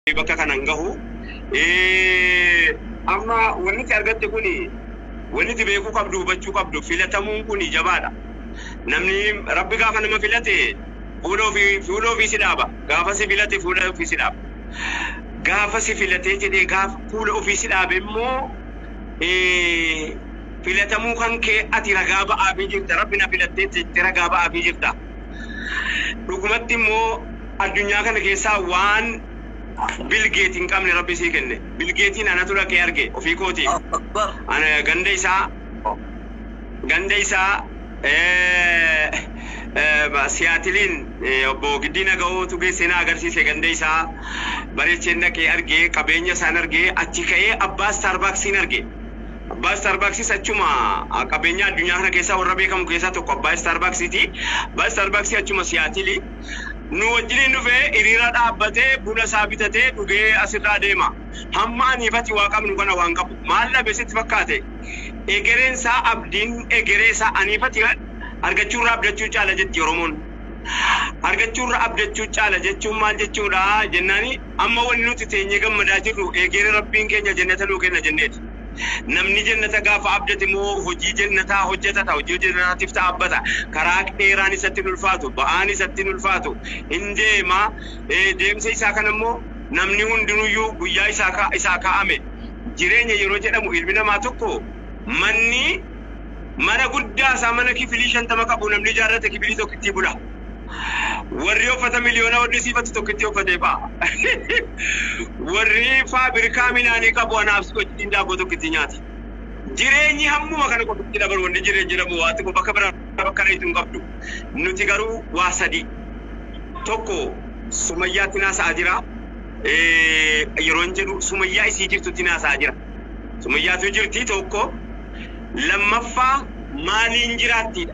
bakka kanan gahu amma wanniti argatte kun wanniti beekuu qabdu hubachuu qabdu filatamuun kun jabaadha namni rabbi gaafa nama filate fuula ofii fuula ofii si dhaaba gaafa si filate fuula ofii si dhaaba gaafa si filatee jedhee gaafa fuula ofii si dhaabe immoo filatamuu kan kee ati ragaa ba'aafii jirta rabbi na filattee jettee ragaa ba'aafii jirta dhugumatti immoo Addunyaa kana keessaa waan Bill Gate hin qabne Rabbi sii kenne. Bill Gate'n anatu dhaqee arge ofii kootiin. Ana ganda isaa ganda isaa Siyaatiliin obbo Giddii Naga'ootu geessee na agarsiise ganda isaa bareecheen dhaqee arge qabeenya isaan arge achi ka'ee abbaa Starbucksiin arge. Abbaa Starbucksis achuma qabeenya addunyaa kana keessaa warra beekamu keessaa tokko abbaa Starbucksiiti. Abbaa Starbucksi achuma Siyaatili. nu wajjiniin dhufee hiriira dhaabbatee buna isaa bitatee dhugee as irraa deema. Hamma anii fi ati waa qabnu kana waan qabu maal dhabe sitti fakkaate? Egereen isaa abdiin egeree isaa anii fi ati argachuu irra abdachuu caala jetti Oromoon. Argachuu irra abdachuu caala jechuun maal jechuudha jennaani amma wanni nuti teenyee gammadaa jirru egeree Rabbiin keenya jannata nuu kenna jenneeti. Namni jennata gaafa abdate immoo hojii jennataa hojjatata, hojii hojjatanaatiif dhaabbata. Karaa dheeraan isatti hin ulfaatu, ba'aan isatti hin ulfaatu. Hin deema, ee deemsa isaa kana immoo namni hundinuu iyyuu guyyaa isaa ka, isaa kaa'ame. Jireenya yeroo jedhamu ilmi namaa tokko manni mana guddaa isaa mana kifilii shantama qabu namni ijaarrate kifilii tokkittii bula. Warri uffata miliyoona warri siifatti tokkitti uffatee ba'a. Warri faabirikaa minaanii qabu anaaf si wajjin daabboo tokkitti nyaata. Jireenyi hammuma kana qofatti dabalu wanti jireenya jedhamu waa xiqqoo bakka biraa bakka dheetu hin qabdu. Nuti garuu waa sadii. Tokko sumayyaatti naasa'aa jira. Eh, Yeroon jedhu sumayyaa isii jirtutti naasa'aa jira. Sumayyaatu jirti tokko. Lammaffaa maaliin jiraattiidha.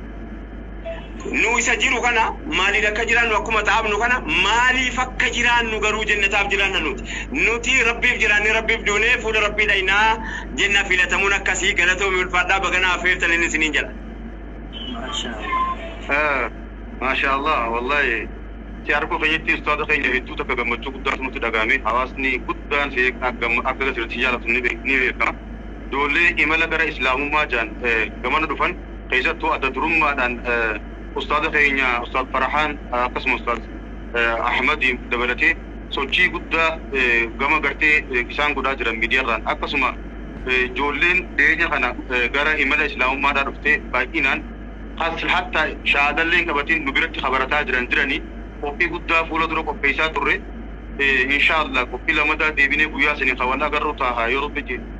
Nu isa jiru kana maaliin akka jiraannu akkuma xaafnu kana maaliif akka jiraannu garuu jennataaf jiraanna nuti. Nuti Rabbiif jiraannee Rabbiif duunee fuula Rabbii dhaynaa jenna filatamuun akkasii galatoomi ulfaadhaa baga na affeertanin isiniin jedha. Maashaa Allah wallahi si arguu keenyatti ustaaza keenya hedduu takka gammachuu guddaatu nutti dhaga'ame hawaasni guddaan si akka asirratti jaallatu ni beekama. Ijoollee imala gara islaamummaa jaan gamana dhufan keessattuu adda durummaadhaan ustaaza keenya ustaaz Farahaan akkasuma ustaaz Ahmad dabalatee sochii guddaa gama gartee isaan godhaa jiran miidiyaarraan akkasuma ijoolleen dhiyeenya kana gara imala islaamummaadhaa dhuftee baay'inaan has hatta shaadalleen qabatiin nu biratti kabarataa jiran jiranii qophii guddaa fuula dura qopheessaa turre inshaa Allah qophii lamadaa deebinee guyyaa sanii ka wal agarru taaha yoo rabbi jedhe